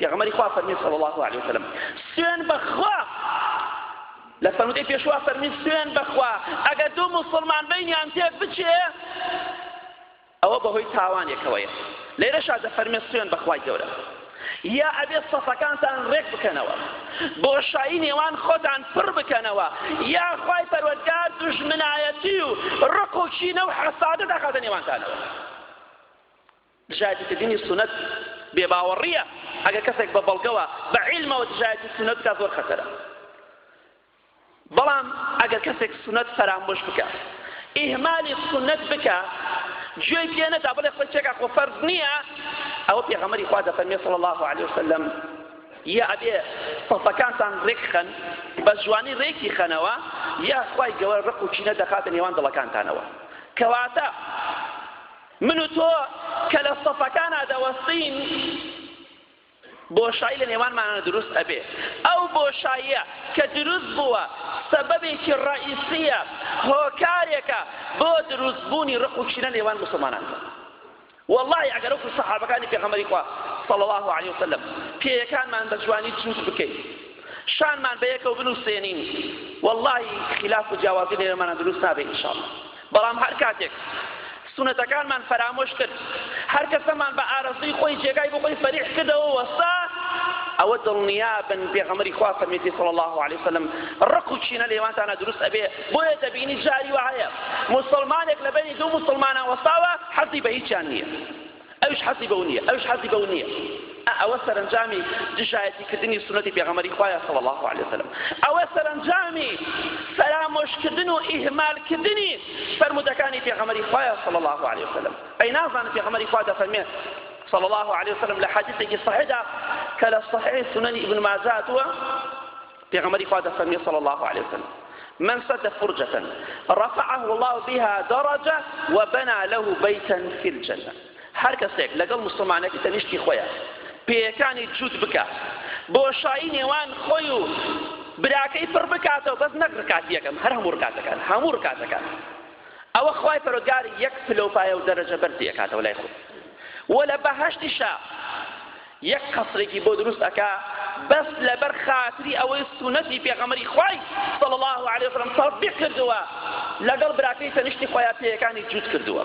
پێغەمبەری خوا فەرمی صلی الله علیه وسلم سوێن بەخوا لە فەرمودەی پێشوا فەرمی سوێن بەخوا ئەگەر دوو مسلمان بینیان تێک بچێ ئەوە بەهۆی تاوانێکەوەیە لێرەشا دەفەرمێ سوێن بەخوای گەورە یا ئەبێ سەفەکانتان ڕێک بکەنەوە بۆشایی نێوان خۆتان پڕ بکەنەوە یا خی پەروەگار دژمنایەتی و ڕق و چینە و حەسادە داخاتە نێوانتانەوە دژایەتی کردنی سونەت بێ باوەڕیە ئەگەر کەسێک بە بەڵگەوە بە عیلمەوە دژایەتی سونەت بکات زۆر خەتەرە بەڵام ئەگەر کەسێک سونەت فەرامۆش بکە ئیهمالی سونەت بکە گوێی پێ نەدا بڵێ خۆی چێکا خۆ فەرز نییە ئەوە پێغەمەری خوا دەفەرمێ صلی الله علیه وسلم یا ئەبێ سەفەکانتان ڕێک خەن بە جوانی ڕێکی خەنەوە یا خوای گەوە ڕق و چینە دەخاتە نێوان دڵەکانتانەوە کەواتە من و تۆ کە لە سەفەکانا دەوەستین بۆشایی لە نێوانمانا دروست ئەبێ ئەو بۆشاییە کە دروست بووە سەبەبێکی ڕەئیسیە هۆکارێکە بۆ دروست بوونی ڕق و کینە نێوان مسلمانان والله ئەگەر وەکو سەحابەکانی پێغەمبەری خوا صلی الله علیه وسلم پێیەکانمان بە جوانی جووت بکەین شانمان بە یەکەوە بنووسێنین والله خلاف و جیاوازی لێرەمانە دروست نابێ ان شاء الله بەڵام هەر کاتێک سونەتەکانمان فەرامۆش کرد، هەر کەسەمان بە ئارەزووی خۆی جێگای بۆ خۆی فەریح کردەوە و وەستا، ئەوە دڵنیابن پێغەمبەری خوا فەرمیێتی صلی اللە علیە وسلم ڕق و کینە لە نێوانتانا دروست ئەبێ، بۆیە دەبینی جاری وا هەیە موسڵمانێک لە بەینی دوو موسڵمانان وەستاوە حەزی بە هیچیان نییە. ئەویش حەزی بەو نیە ئەویش حەزی بەو نیە ئە ئەوە سەرنجامی دژایەتی کردنی سونەتی پێغەمەری خوایە صلی الله علیه وسلم ئەوە سەرنجامی فەرامۆشکردن و ئیهمالکردنی فەرمودەکانی پێغەمەری خوایە صلی الله علیه وسلم ئەی نازان پێغەمەری خوا دەفەرمێت صلى الله عليه وسلم لحديثك صحيح كلا صحيح سنن ابن ماجه پێغەمبەری خوا دەفەرمێ صلی اللە علیە وسلم، من سد فرجة رفعه الله بها درجة وبنى له بيتا في الجنة هەر کەسێک لەگەڵ مسلمانێک تەنیشتی خۆیە پێیەکانی جووت بکە بۆشایی نێوان خۆی و براکەی پڕ بکاتەوە بەس نەک ڕکات یەکەم هەر هەموو ڕکاتەکان هەموو ڕکاتەکان ئەوە خی پەرۆگار یەک پلەپایە و دەرەجە بەرزی ئەکاتەوە لای خۆ وە لە بەهشتیشە یەک قەسرێکی بۆ دروست ئەکا بەس لەبەر خاتری ئەوەی سونەتی پێغەمەری خوای صلی الله علیه وسلم تطبیق کردووە لەگەڵ براکەی تەنیشتی خۆیان پێیەکانی جووت کردووە